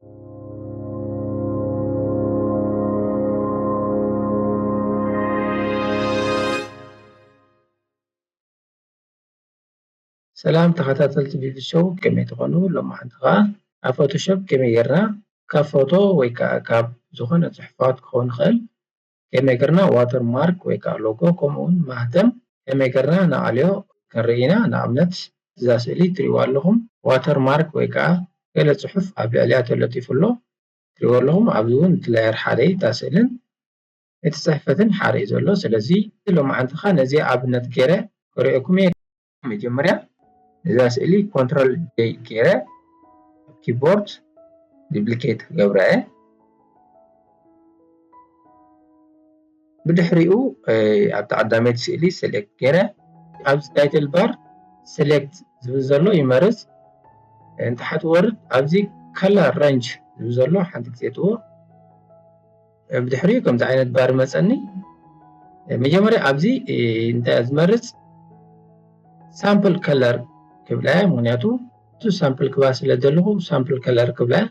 ሰላም ተኸታተልቲ ቢቢሾው ከመይ ትኾኑ ሎማሓንቲ ከዓ ኣብ ፎቶሾፕ ከመይ ጌርና ካብ ፎቶ ወይ ከዓ ካብ ዝኾነ ፅሑፋት ክኸውን ይኽእል ኤሜገርና ዋተር ማርክ ወይ ከኣ ሎጎ ከምኡ ውን ማህተም ኤሜገርና ንኣልዮ ክንርኢ ኢና ንኣብነት እዛ ስእሊ ትሪእዋ ኣለኹም ዋተር ማርክ ወይ ከኣ ገለ ጽሑፍ ኣብ ልዕሊኣ ተለጢፉ ኣሎ ትሪእዎ ኣለኹም ኣብዚ ውን እቲ ላየር ሓደ እዩ እታ ስእልን እቲ ጽሕፈትን ሓሪኡ ዘሎ ስለዚ ሎማዓንቲ ከኣ ነዚኣ ኣብነት ጌረ ከሪኦኩም እየ። መጀመርያ እዛ ስእሊ ኮንትሮል ጀይ ገይረ ኣብ ኪቦርድ ዲፕሊኬት ክገብራ እየ ብድሕሪኡ ኣብ ተቐዳመይቲ ስእሊ ሴሌክት ገይረ ኣብዚ ታይትል ባር ሴሌክት ዝብል ዘሎ ይመርፅ እንተሓት ወርድ ኣብዚ ከለር ረንጅ ዝብል ዘሎ ሓንቲ ግዜ እትዎ ብድሕሪኡ ከምዚ ዓይነት ባር መፀኒ መጀመርያ ኣብዚ እንታይ ዝመርፅ ሳምፕል ከለር ክብላ እያ ምክንያቱ እቲ ሳምፕል ክባ ስለ ዘለኹ ሳምፕል ከለር ክብላ እያ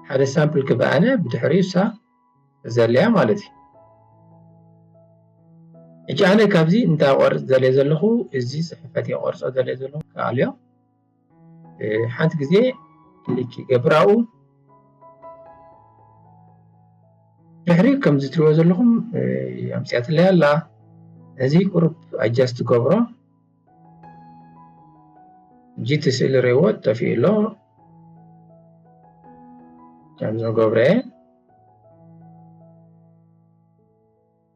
ሓደ ሳምፕል ክባ ኣነ ብድሕሪኡ እሳ ዘለያ ማለት እዩ እጂ ኣነ ካብዚ እንታይ ቆርፅ ዘለ ዘለኹ እዚ ፅሕፈት የቆርፆ ዘለ ዘለኹ ክኣልዮ ሓንቲ ግዜ ክሊክ ይገብር ኣብኡ ድሕሪ ከምዚ ትሪእዎ ዘለኹም ኣምፅኣትለይ ኣላ እዚ ቁሩብ ኣጃስት ትገብሮ ጂቲ ስእሊ ሬዎ ጠፊኡ ኣሎ ከምዚ ገብረ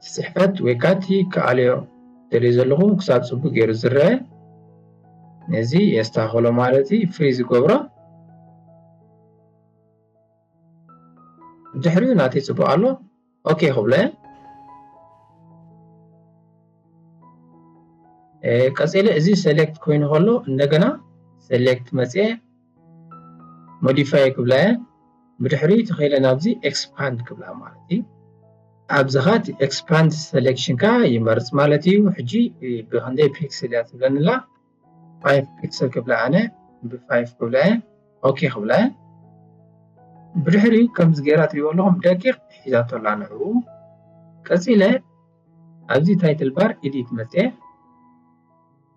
እቲ ጽሕፈት ወይ ከኣ እቲ ክኣልዮ ደልዮ ዘለኹ ክሳብ ጽቡቕ ገይሩ ዝረኣ ነዚ የስተኻኽሎ ማለት እዩ ፍሪ ዝገብሮ ድሕሪኡ ናተይ ጽቡቕ ኣሎ ኦኬ ክብሎ እየ ቀጺለ እዚ ሰሌክት ኮይኑ ከሎ እንደገና ሰሌክት መጽኤ ሞዲፋይ ክብላ እየ ብድሕሪኡ ተኸኢለ ናብዚ ኤክስፓንድ ክብላ ማለት እዩ ኣብዚኻ እቲ ኤክስፓንድ ሴሌክሽንካ ይመርፅ ማለት እዩ ሕጂ ብክንደይ ፒክስል እያ ትብለኒ ኣላ ፋይቭ ፒክስል ክብላ ኣነ ብፋይቭ ክብላ እየ ኦኬ ክብላ እየ ብድሕሪኡ ከምዚ ገይራ ትሪእዎ ኣለኹም ደቂቕ ሒዛቶ ኣላ ንዕኡ ቀፂለ ኣብዚ ታይትል ባር ኢዲት መፅአ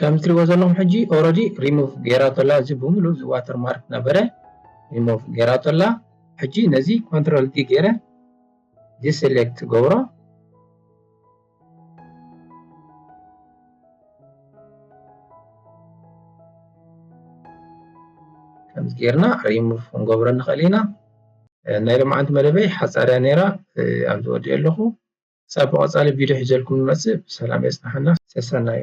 ከምዚ ትሪእዎ ዘለኹም ሕጂ ኦረዲ ሪሙቭ ገይራቶ ኣላ እዚ ብምሉእ እዚ ዋተር ማርክ ነበረ ሪሙቭ ገይራቶ ኣላ ሕጂ ነዚ ኮንትሮል ዲ ገይረ ዲሰሌክት ገብሮ ከምዚ ጌርና ሪሙቭ ክንገብሮ ንኽእል ኢና ናይ ሎማዓንቲ መደበይ ሓፃርያ ነይራ ኣብዚ ወዲኦ ኣለኹ ክሳብ ብቀፃሊ ቪድዮ ሒዘልኩም ንመፅእ ብሰላም የፅንሓና ሰሰናዩ።